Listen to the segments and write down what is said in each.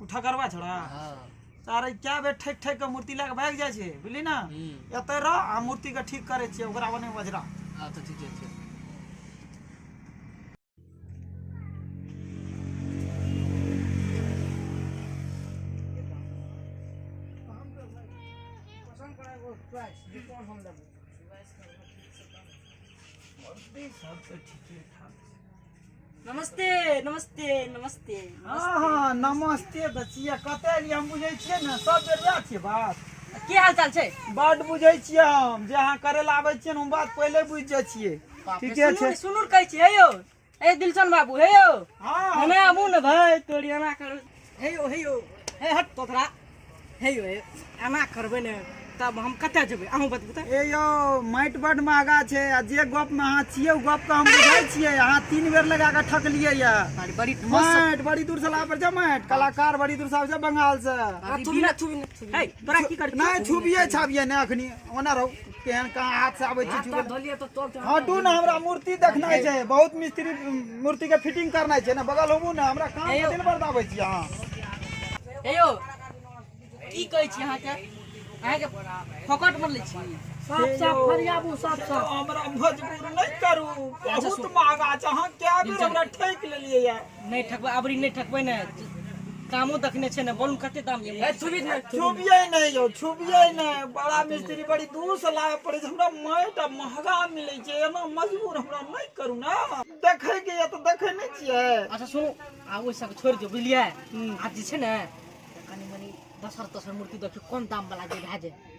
ओ ठकरवा छोड़ा हाँ तारे क्या बे ठेक ठेक के मूर्ति लए के भागि जाइ छै बुझली ने हम्म, एतऽ रह आ मूर्ति के ठीक करै छियै ओकरा बने बजरा हाँ तो ठीक है ठीक सब तऽ ठीके ठाक नमस्ते नमस्ते नमस्ते हँ नमस्ते तऽ छियै कतऽ एलियै हम बुझै छियै ने सब बेर वएह छियै बात की हाल चाल छै बड बुझै छियै हम जे अहाँ करै लए आबै छियै ने हम बात पहिले बुझि जाइ छियै ठीके छै सुनू कहै छियै यौ ए दिलशन बाबू हे यौ हँ हमे आबू ने भाय तोरी एना करू हे यौ हे यौ हे हट तोरा हे यौ हे एना करबै ने तब हम कतऽ जेबै अहूँ बतबू तऽ ए यौ माटि बड महगा छै आ जे गप में अहाँ छियै ओ गप के हम बुझै छियै अहाँ तीन बेर लगा के ठकलियै या बड़ी बड़ी ठोस माटि बड़ी दूर से लापर छै माटि कलाकार बड़ी दूर से आबै छै बंगाल से आ, छुबी ना छुबी ना छुबी ना। हे तोरा की कर नहि छुबिये छाबिये नहि अखनी ओना रहू केहन कहाँ हाथ से आबै छै चूड़ी धोलिए तो तोल तो हटू ना हमरा मूर्ति देखनाइ छै बहुत मिस्त्री मूर्ति के फिटिंग करनाइ छै ना बगल होबू ना हमरा काम के दिन भर आबै छी अहाँ हे यौ की कहै छी अहाँके अहाँके फोकट मे लै छी साफ साफ फरियाबू साफ साफ हमरा मजबूर नहि करू बहुत महंगा छै अहाँ कए बेर हमरा ठकि लेलियै नहि ठकबै अबरी नहि ठकबै ने कामो देखने छै ने बोलू कते दाम ये ए, छुबी नहि, छुबी नहि। छुबियै नहि यौ छुबियै नहि बड़ा मिस्त्री बड़ी दूर से लाबऽ पड़ै छै हमरा माटि आ महगा मिलै छै एना मजबूर हमरा नहि करू ने देखै के यऽ तऽ देखै नहि छियै अच्छा सुनू आ ओहि सबके छोड़ि दियौ बुझलियै आ जे छै ने कनी मनी दसर तसर मूर्ति देखियौ कम दाम वाला जे भए जाय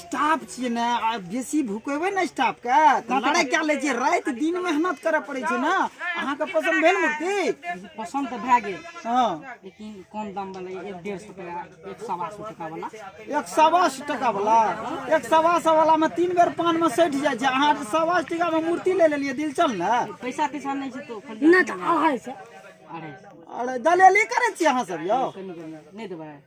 स्टाफ छियै ने आ बेसी भुकेबै ने स्टाफके तऽ लड़ाइ कए लै छियै राति दिन मेहनत करय पड़ै छै ने अहाँके पसन्द भेल मूर्ति पसन्द तऽ भए गेल हँ लेकिन कम दाम वाला ये, एक डेढ़ सौ टका एक सवा सौ टका वाला एक सवा सए टका वाला एक सवा सए वाला मे तीन बेर पान मे सटि जाइ छै अहाँ सवा सए टका मे मूर्ति ले लेलियै दिल चल ने पैसा तैसा नहीं छै तो खरीदे- नहीं तो अढ़ाई सौ अरे दलेली करै छियै अहाँ सब यौ कनी कनी नहीं देबै